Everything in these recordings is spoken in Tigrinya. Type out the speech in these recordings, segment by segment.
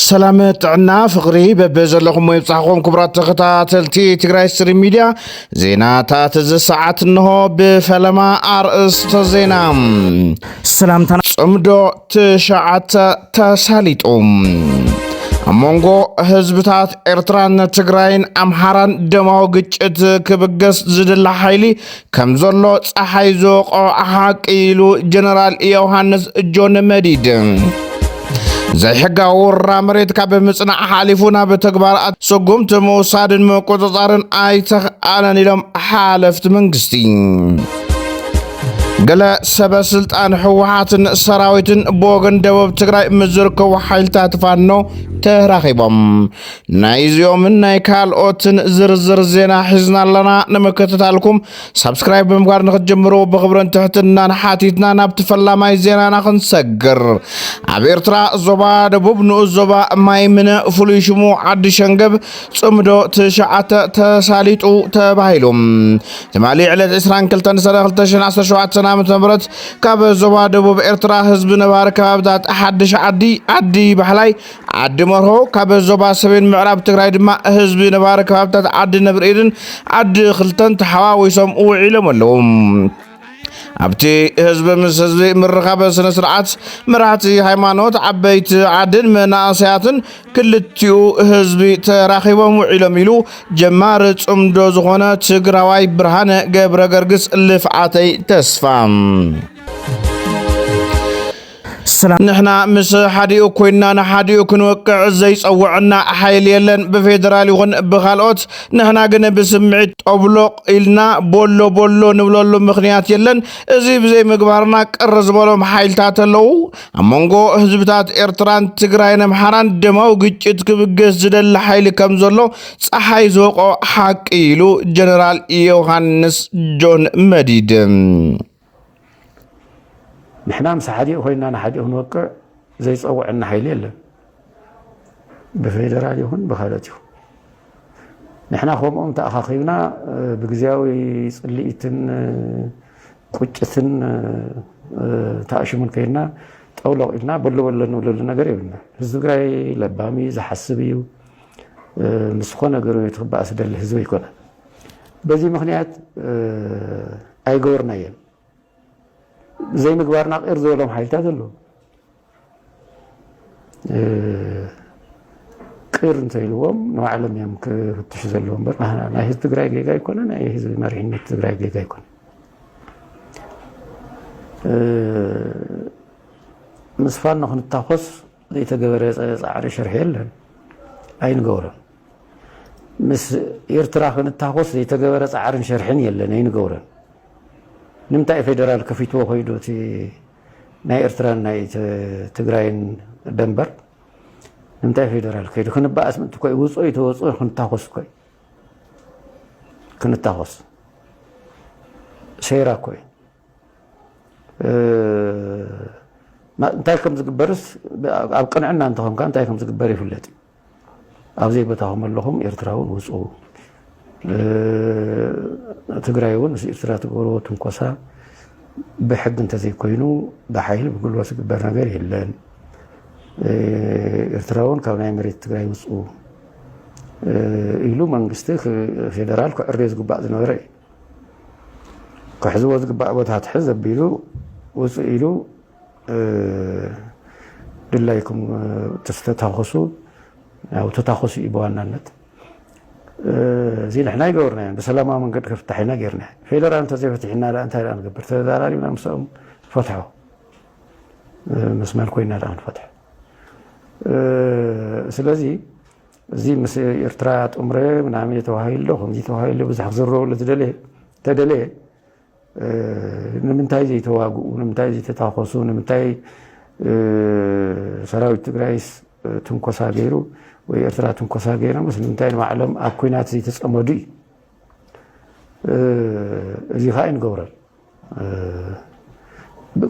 ሰላም ጥዕና ፍቕሪ በበ ዘለኹም ወይብፃሕኹም ክቡራት ተኸታተልቲ ትግራይ ስሪ ሚድያ ዜናታት እዚ ሰዓት እንሆ ብፈለማ ኣርእስተ ዜና ሰላምታ ፅምዶ ትሽዓተ ተሳሊጡ ኣብ መንጎ ህዝብታት ኤርትራን ትግራይን ኣምሓራን ደማዊ ግጭት ክብገስ ዝድላ ሓይሊ ከም ዘሎ ፀሓይ ዝወቕዖ ሓቂ ኢሉ ጀነራል ዮሃንስ ጆን መዲድ ዘይሕጋዊ ውራ መሬት ካብ ምጽናዕ ሓሊፉ ናብ ተግባራት ስጉምቲ ምውሳድን ምቁፅፃርን ኣይተኽኣለን ኢሎም ሓለፍቲ መንግስቲ ገለ ሰበ ስልጣን ህወሓትን ሰራዊትን ብወገን ደቡብ ትግራይ ምስ ዝርከቡ ሓይልታት ፋኖ ተራኺቦም ናይዚኦምን ናይ ካልኦትን ዝርዝር ዜና ሒዝና ኣለና ንምክትታልኩም ሳብስክራይብ ብምግባር ንክትጀምሩ ብክብርን ትሕትናን ሓቲትና ናብቲ ፈላማይ ዜናና ክንሰግር ኣብ ኤርትራ ዞባ ደቡብ ንኡስ ዞባ ማይምነ ፍሉይ ሽሙ ዓዲ ሸንገብ ጽምዶ ትሽዓተ ተሳሊጡ ተባሂሉ ትማሊ ዕለት 22 ሰነ 2017 ዓ ም ካብ ዞባ ደቡብ ኤርትራ ህዝቢ ነባሪ ከባብታት ሓድሽ ዓዲ ዓዲ ባሕላይ ዓዲ መርሆ ካብ ዞባ ሰሜን ምዕራብ ትግራይ ድማ ህዝቢ ነባሪ ከባብታት ዓዲ ነብሪ ኢድን ዓዲ ክልተን ተሓዋዊሶም ውዒሎም ኣለዉ። ኣብቲ ህዝቢ ምስ ህዝቢ ምርኻበ ስነ ስርዓት መራሕቲ ሃይማኖት ዓበይቲ ዓድን መናእሰያትን ክልቲኡ ህዝቢ ተራኺቦም ውዒሎም ኢሉ ጀማሪ ጽምዶ ዝኾነ ትግራዋይ ብርሃነ ገብረ ገርግስ ልፍዓተይ ተስፋ ሰላም ንሕና ምስ ሓዲኡ ኮይንና ንሓዲኡ ክንወቅዕ ዘይፀወዐና ሓይሊ የለን ብፌደራል ይኹን ብኻልኦት ንሕና ግን ብስምዒት ጦብሎቕ ኢልና ቦሎ ቦሎ ንብለሉ ምኽንያት የለን እዚ ብዘይምግባርና ቅር ዝበሎም ሓይልታት ኣለው ኣብ መንጎ ህዝብታት ኤርትራን ትግራይን ኣምሓራን ደማዊ ግጭት ክብገስ ዝደሊ ሓይሊ ከም ዘሎ ፀሓይ ዝወቕዖ ሓቂ ኢሉ ጀነራል ዮሃንስ ጆን መዲድ ንሕና ምስ ሓዲኡ ኮይና ንሓዲኡ ክንወቅዕ ዘይፀውዐና ሓይሊ የለን ብፌደራል ይኹን ብካልኦት ይኹን ንሕና ከምኦም ተኣኻኺብና ብግዜያዊ ፅልኢትን ቁጭትን ተኣሽሙን ከይድና ጠውለቕ ኢልና በሎ በሎ ንብለሉ ነገር የብልና ህዝቢ ትግራይ ለባም እዩ ዝሓስብ እዩ ምስ ዝኾነ ገሩ ትክበኣስ ደሊ ህዝቢ ኣይኮነን በዚ ምኽንያት ኣይገበርናዮን ዘይምግባርና ቂር ዝበሎም ሓይልታት ኣለዉ ቂር እንተኢልዎም ንባዕሎም እዮም ክፍትሹ ዘለዎ እምበር ናይ ህዝቢ ትግራይ ጌጋ ኣይኮነ ናይ ህዝቢ መሪሕነት ትግራይ ጌጋ ኣይኮነ ምስ ፋኖ ክንታኮስ ዘይተገበረ ፃዕሪ ሽርሒ የለን ኣይንገብሮን ምስ ኤርትራ ክንታኾስ ዘይተገበረ ጻዕርን ሸርሕን የለን ኣይንገብሮን። ንምንታይ ፌደራል ከፊትዎ ኮይዱ እቲ ናይ ኤርትራን ናይ ትግራይን ደንበር ንምንታይ ፌደራል ከይዱ ክንበኣስ ምእንቲ ኮይ ውፅኦ ይተወፅኦ ክንታኾስ ኮይ ክንታኾስ ሴራ ኮይ እንታይ ከም ዝግበርስ ኣብ ቅንዕና እንተኾንካ እንታይ ከም ዝግበር ይፍለጥ እዩ። ኣብ ዘይቦታኹም ኣለኹም ኤርትራ እውን ውፁ ትግራይ እውን ምስ ኤርትራ ትገብርዎ ትንኮሳ ብሕጊ እንተዘይኮይኑ ብሓይሊ ብጉልበት ዝግበር ነገር የለን። ኤርትራ እውን ካብ ናይ መሬት ትግራይ ውፁ ኢሉ መንግስቲ ፌደራል ክዕርዮ ዝግባእ ዝነበረ እዩ። ክሕዝዎ ዝግባእ ቦታ ትሕዝ ኣቢሉ ውፅእ ኢሉ ድላይኩም ተታኹሱ ያው ተታኹሱ እዩ ብዋናነት እዚ ንሕና ይገበርናዮ ብሰላማዊ መንገዲ ክፍታሕ ኢና ጌርና ፌደራል እንተዘይፈትሒና ዳ እንታይ ዳ ንገብር ተዘራሪብና ምስኦም ፈትሖ ምስ መን ኮይና ዳ ክንፈትሖ ስለዚ እዚ ምስ ኤርትራ ጥምረ ምናምየ ተባሂሉ ዶ ከምዚ ተባሂሉ ዶ ብዙሕ ክዝረበሉ ዝደለየ ተደለየ ንምንታይ ዘይተዋግኡ ንምንታይ ዘይተታኮሱ ንምንታይ ሰራዊት ትግራይስ ትንኮሳ ገይሩ ወይ ኤርትራ ትንኮሳ ገይሮምስ ንምንታይ ንባዕሎም ኣብ ኩናት ዘይተፀመዱ እዩ እዚ ከዓ ይንገብረል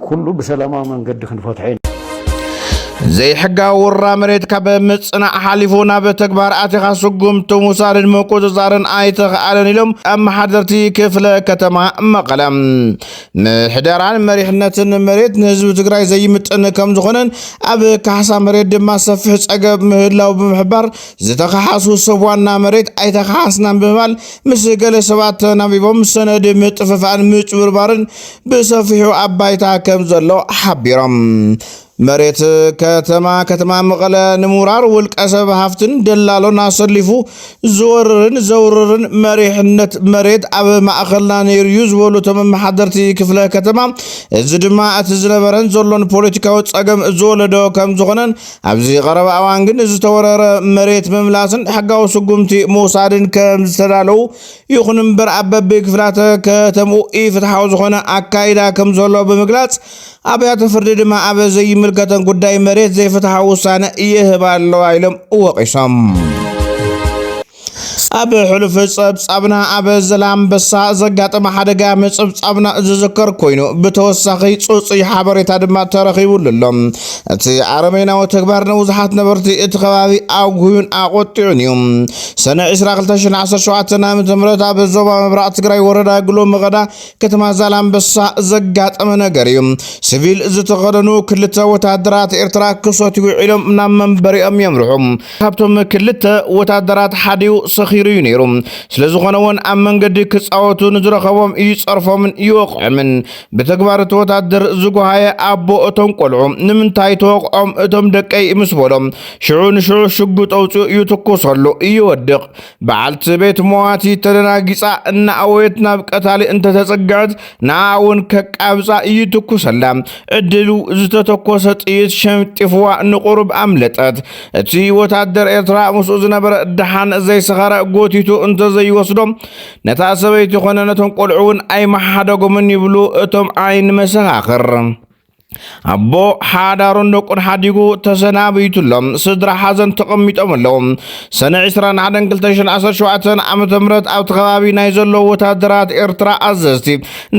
ኩሉ ብሰላማዊ መንገዲ ክንፈትሖ ኢና። ዘይሕጋዊ ውራ መሬት ካብ ምጽናዕ ሓሊፉ ናብ ተግባር ኣቲኻ ስጉምቲ ምውሳድን ምቁፅፃርን ኣይተኽኣለን ኢሎም ኣመሓደርቲ ክፍለ ከተማ መቐለ። ምሕደራን መሪሕነትን መሬት ንህዝቢ ትግራይ ዘይምጥን ከም ዝኾነን ኣብ ካሕሳ መሬት ድማ ሰፊሕ ፀገብ ምህላው ብምሕባር ዝተኸሓሱ ሰብ ዋና መሬት ኣይተኸሓስናን ብምባል ምስ ገለ ሰባት ተናቢቦም ሰነድ ምጥፍፋእን ምጭብርባርን ብሰፊሑ ኣብ ባይታ ከም ዘሎ ሓቢሮም። መሬት ከተማ ከተማ መቐለ ንምውራር ውልቀ ሰብ ሃፍትን ደላሎን ኣሰሊፉ ዝወርርን ዘውርርን መሪሕነት መሬት ኣብ ማእኸልና ነይሩ እዩ ዝበሉ እቶም ኣመሓደርቲ ክፍለ ከተማ እዚ ድማ እቲ ዝነበረን ዘሎን ፖለቲካዊ ፀገም ዝወለዶ ከም ዝኾነን ኣብዚ ቀረባ እዋን ግን ዝተወረረ መሬት ምምላስን ሕጋዊ ስጉምቲ ምውሳድን ከም ዝተዳለዉ ይኹን እምበር ኣብ በቢ ክፍላተ ከተምኡ ኢፍትሓዊ ዝኾነ ኣካይዳ ከም ዘሎ ብምግላጽ ኣብያተ ፍርዲ ድማ ኣብ ዘይምልከተን ጉዳይ መሬት ዘይፍትሓዊ ውሳነ ይህባ ኣለዋ ኢሎም ወቒሶም። ኣብ ሕሉፍ ጸብጻብና ኣብ ዘላምበሳ ዘጋጠመ ሓደጋ ምጽብጻብና ዝዝከር ኮይኑ ብተወሳኺ ጽጹይ ሓበሬታ ድማ ተረኺቡሉ ኣሎ። እቲ ኣረሜናዊ ተግባር ንብዙሓት ነበርቲ እቲ ከባቢ ኣጉህዩን ኣቖጢዑን እዩ። ሰነ 22/2017 ዓ.ም ኣብ ዞባ ምብራቕ ትግራይ ወረዳ ግሎ መቐዳ ከተማ ዛላምበሳ ዘጋጠመ ነገር እዩ። ሲቪል ዝተኸደኑ ክልተ ወታደራት ኤርትራ ክሰትዩ ውዒሎም ናብ መንበሪኦም የምርሑ። ካብቶም ክልተ ወታደራት ሓዲኡ ሰኺሩ እዩ ነይሩ። ስለ ዝኾነ እውን ኣብ መንገዲ ክፃወቱ ንዝረኸቦም ይፀርፎምን ይወቕዖምን። ብተግባር እቲ ወታደር ዝጎሃየ ኣቦ እቶም ቆልዑ ንምንታይ ተወቕዖም እቶም ደቀይ ምስ በሎም ሽዑ ንሽዑ ሽጉጥ ኣውፂኡ ይትኩሰሉ ይወድቕ። በዓልቲ ቤት መዋቲ ተደናጊጻ እናኣወየት ናብ ቀታሊ እንተተጸግዐት ንኣ እውን ከቃብጻ እይትኩሰላ ዕድሉ ዝተተኮሰ ጥይት ሸምጢፍዋ ንቁሩብ ኣምለጠት እቲ ወታደር ኤርትራ ምስኡ ዝነበረ ደሓን ዘይሰኸረ ጎቲቱ እንተዘይወስዶ ነታ ሰበይቲ ኮነ ነቶም ቆልዑ እውን ኣይመሓደጎምን ይብሉ እቶም ዓይን መሰኻኽር ኣቦ ሓዳሩን ደቁን ሓዲጉ ተሰናቢቱ ኣሎ ስድራ ሓዘን ተቐሚጦም ኣለዉ ሰነ 21/2017 ዓ ም ኣብቲ ከባቢ ናይ ዘለዉ ወታደራት ኤርትራ ኣዘዝቲ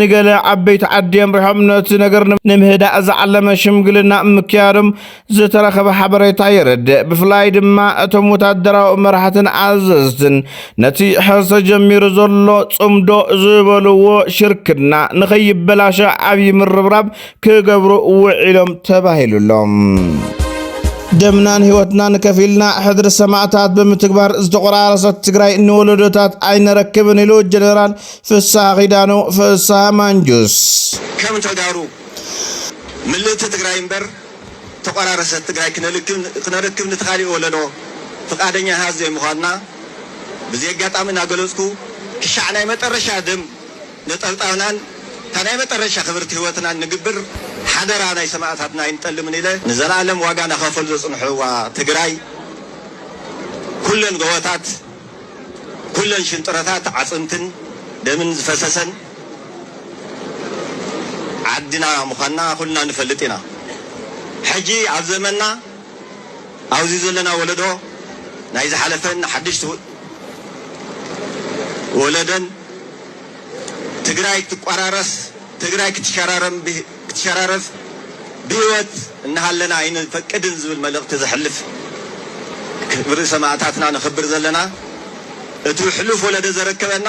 ንገለ ዓበይቲ ዓዲ ኣምሪሖም ነቲ ነገር ንምህዳእ ዝዓለመ ሽምግልና ምክያዶም ዝተረኸበ ሓበሬታ የረድእ። ብፍላይ ድማ እቶም ወታደራዊ መራሕትን ኣዘዝትን ነቲ ሕዚ ተጀሚሩ ዘሎ ጽምዶ ዝበልዎ ሽርክና ንኸይበላሸ ዓብዪ ምርብራብ ክገብሩ ውዒሎም ተባሂሉሎም። ደምናን ህይወትናን ከፊልና ሕድሪ ሰማእታት ብምትግባር ዝተቆራረሰት ትግራይ ንወለዶታት ኣይነረክብን ኢሉ ጀነራል ፍስሃ ኪዳኑ ፍስሃ ማንጁስ ከም ተጋሩ ምልእቲ ትግራይ እምበር ዝተቆራረሰት ትግራይ ክነረክብ ንቲ ካሊእ ወለዶ ፍቃደኛ ሃዝ ዘይምኳንና ብዚ ኣጋጣሚ እናገለፅኩ ክሻዕ ናይ መጠረሻ ደም ነጠብጣብናን እታ ናይ መጠረሻ ክብርቲ ህይወትናን ንግብር ሓደራ ናይ ሰማእታትና ኣይንጠልምን ኢለ ንዘላኣለም ዋጋ ናኸፈሉ ዘፅንሑዋ ትግራይ ኩለን ጎቦታት ኩለን ሽንጥሮታት ዓፅምትን ደምን ዝፈሰሰን ዓድና ምዃና ኩልና ንፈልጥ ኢና። ሕጂ ኣብ ዘመንና ኣውዚ ዘለና ወለዶ ናይ ዝሓለፈን ሓድሽ ወለደን ትግራይ ክትቋራረስ ትግራይ ክትሸራረፍ ብህይወት እናሃለና ኣይንፈቅድን ዝብል መልእኽቲ ዘሕልፍ ክብሪ ሰማእታትና ነኽብር ዘለና እቲ ሕሉፍ ወለደ ዘረከበና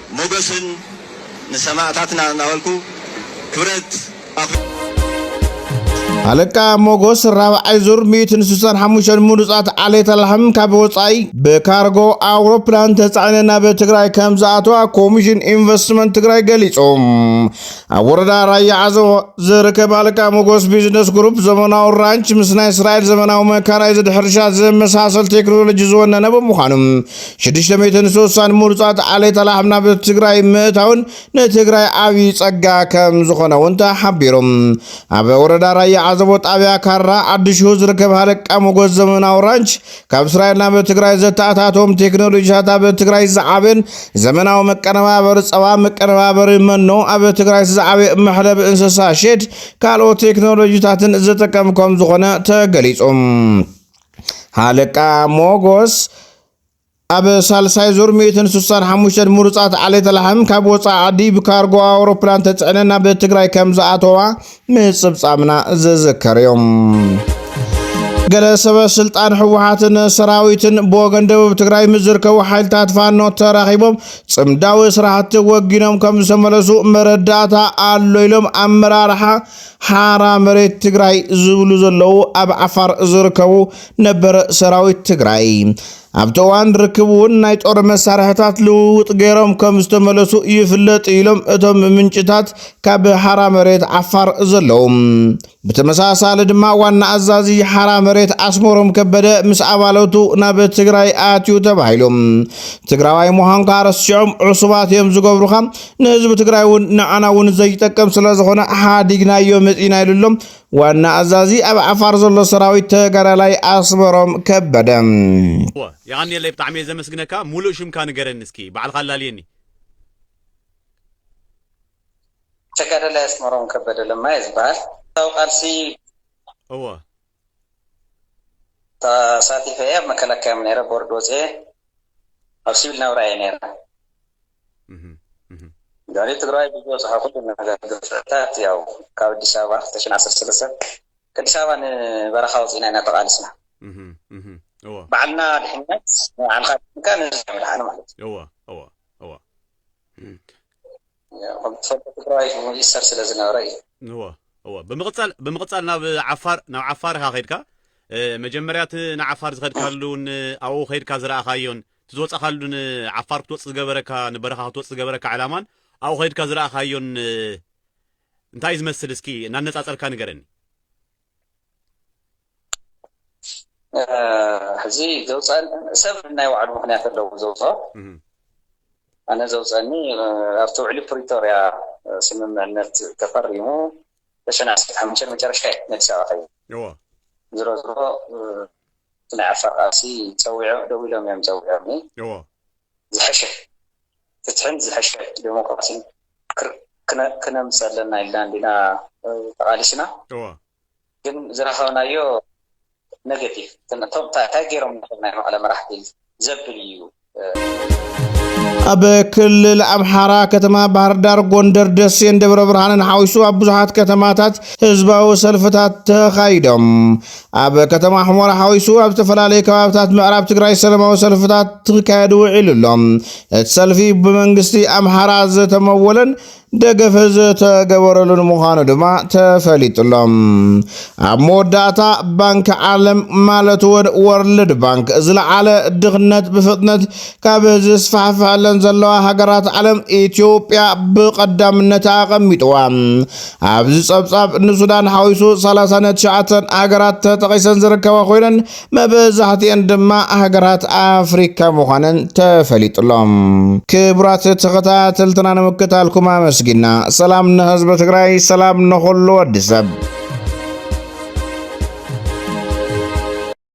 ሞገስን ንሰማእታትና እናበልኩ ክብረት ኣኽ። ሃለቃ ሞጎስ ራብዓይ ዙር 165 ምሩፃት ዓሌት ላሕም ካብ ወፃኢ ብካርጎ ኣውሮፕላን ተፃዒነ ናብ ትግራይ ከም ዝኣተዋ ኮሚሽን ኢንቨስትመንት ትግራይ ገሊፁ። ኣብ ወረዳ ራያ ዓዘቦ ዝርከብ ሃለቃ ሞጎስ ቢዝነስ ግሩፕ ዘመናዊ ራንች ምስ ናይ እስራኤል ዘመናዊ መካናይዝድ ሕርሻ ዘመሳሰል ቴክኖሎጂ ዝወነነ ብምዃኑ ሽዱሽተ ሚእትን ስሳን ምሩፃት ዓሌት ላሕም ናብ ትግራይ ምእታውን ንትግራይ ዓብዪ ፀጋ ከም ዝኾነ እውን ተሓቢሩ። ኣብ ወረዳ ራያ ዓዘቦ ጣብያ ካራ ዓዲሽሁ ዝርከብ ሃለቃ ሞጎስ ዘመናዊ ራንች ካብ እስራኤል ናብ ትግራይ ዘተኣታቶም ቴክኖሎጂታት ኣብ ትግራይ ዝዓበን ዘመናዊ መቀነባበሪ ፀባ፣ መቀነባበሪ መኖ፣ ኣብ ትግራይ ዝዓበየ መሕለቢ እንስሳ ሼድ ካልኦት ቴክኖሎጂታትን ዝጥቀም ከም ዝኾነ ተገሊፁ። ሃለቃ ሞጎስ ኣብ ሳልሳይ ዙር 165 ምሩፃት ዓሌተ ላሕም ካብ ወፃኢ ዓዲ ብካርጎ ኣውሮፕላን ተፅዕነን ናብ ትግራይ ከም ዝኣተዋ ምፅብፃምና ዝዝከር እዮም። ገለ ሰበ ስልጣን ህወሓትን ሰራዊትን ብወገን ደቡብ ትግራይ ምስ ዝርከቡ ሓይልታት ፋኖ ተራኺቦም ፅምዳዊ ስራሕቲ ወጊኖም ከም ዝተመለሱ መረዳእታ ኣሎ ኢሎም ኣመራርሓ ሓራ መሬት ትግራይ ዝብሉ ዘለዉ ኣብ ዓፋር ዝርከቡ ነበር ሰራዊት ትግራይ ኣብቲ እዋን ርክብ እውን ናይ ጦር መሳርሕታት ልውውጥ ገይሮም ከም ዝተመለሱ ይፍለጥ ኢሎም እቶም ምንጭታት ካብ ሓራ መሬት ዓፋር ዘለዉ። ብተመሳሳሊ ድማ ዋና ኣዛዚ ሓራ መሬት ኣስመሮም ከበደ ምስ ኣባለቱ ናብ ትግራይ ኣትዩ ተባሂሉ ትግራዋይ ምዃንካ ረሲዖም ዕሱባት እዮም ዝገብሩኻ ንህዝቢ ትግራይ እውን ንዓና እውን ዘይጠቅም ስለ ዝኾነ ሓዲግናዮ መፂና ኢሉ ኣሎ ዋና ኣዛዚ ኣብ ዓፋር ዘሎ ሰራዊት ተጋዳላይ ኣስመሮም ከበደ። እወ የቀንየለይ ብጣዕሚ እየ ዘመስግነካ ሙሉእ ሽምካ ንገረኒ እስኪ ባዕልካ ኣላልየኒ። ተጋዳላይ ኣስመሮም ከበደ ለማ እየ ዝበሃል። ብረታዊ ቃልሲ። እወ ተሳቲፈ እየ ኣብ መከላከያ እየ ነይረ ቦርድ ወፅየ ኣብ ሲቪል ናብራ እየ ነይረ ድሕሪ ትግራዋይ ብዝበፅሖ ኩሉ ነገር ግፍዕታት ያው ካብ ኣዲስ ኣበባ ክልተ ሽሕ ዓሰርተ ሰለስተ ከኣዲስ ኣበባ ንበረኻ ወፂእና ኢና ተቓልስና ባዕልና ድሕነት ንባዕልካ ድሕንካ ንህዝቢ ምድሓን ማለት እዩ ከም ትፈልጦ ትግራይ ምኢሰር ስለ ዝነበረ እዩ። እወ እወ ብምቕጻል ብምቕጻል ናብ ዓፋር ናብ ዓፋር ኢኻ ከድካ መጀመርያ እቲ ንዓፋር ዝኸድካሉን ኣብኡ ከድካ ዝረኣኻዮን እቲ ዝወጻኻሉ ን ዓፋር ክትወጽእ ዝገበረካ ንበረኻ ክትወጽእ ዝገበረካ ዕላማን ኣብኡ ከድካ ዝረኣኻዮን እንታይ እዩ ዝመስል እስኪ እናነጻጸርካ ንገረኒ። ሕዚ ዘውፀን ሰብ ናይ ባዕሉ ምክንያት ኣለዎ ዘውፆ ኣነ ዘውፀኒ ኣብቲ ውዕሊ ፕሪቶርያ ስምምዕነት ተፈሪሙ ተሸነ ዓሰርተ ሓሙሽተ መጨረሻ እዩ ኣዲስ ኣበባ ከዩ ዝሮ ዝሮ እቲ ናይ ዓፋር ቃልሲ ፀዊዖ ደው ኢሎም እዮም ፀዊዖኒ ዝሐሸ ፍትሕን ዝሐሸ ዴሞክራሲን ክነምፅ ኣለና ኢልና እንዲና ተቃሊስና ግን ዝረከብናዮ ኔጌቲቭ እቶም ታይ ገይሮም ነቶም ናይ መቀለ መራሕቲ ዘብል እዩ። ኣብ ክልል ኣምሓራ ከተማ ባህርዳር፣ ጎንደር፣ ደሴን ደብረ ብርሃንን ሓዊሱ ኣብ ብዙሓት ከተማታት ህዝባዊ ሰልፍታት ተኻይዶም። ኣብ ከተማ ሑመራ ሓዊሱ ኣብ ዝተፈላለዩ ከባብታት ምዕራብ ትግራይ ሰለማዊ ሰልፍታት ክካየድ ውዒሉ ኣሎ። እቲ ሰልፊ ብመንግስቲ ኣምሓራ ዝተመወለን ደገፈ ዝተገበረሉን ምዃኑ ድማ ተፈሊጡሎም ኣብ መወዳእታ ባንኪ ዓለም ማለት ወድ ወርልድ ባንክ ዝለዓለ ድኽነት ብፍጥነት ካብ ዝስፋሕፍሐለን ዘለዋ ሃገራት ዓለም ኢትዮጵያ ብቐዳምነት ኣቐሚጥዋ ኣብዚ ጸብጻብ ንሱዳን ሓዊሱ ሰላሳን ትሽዓተን ሃገራት ተጠቒሰን ዝርከባ ኮይነን መብዛሕትኤን ድማ ሃገራት ኣፍሪካ ምዃነን ተፈሊጡሎ። ክቡራት ተኸታተልትና ንምክታልኩም ኣመስጊና ሰላም ንህዝቢ ትግራይ፣ ሰላም ንኹሉ ወዲ ሰብ።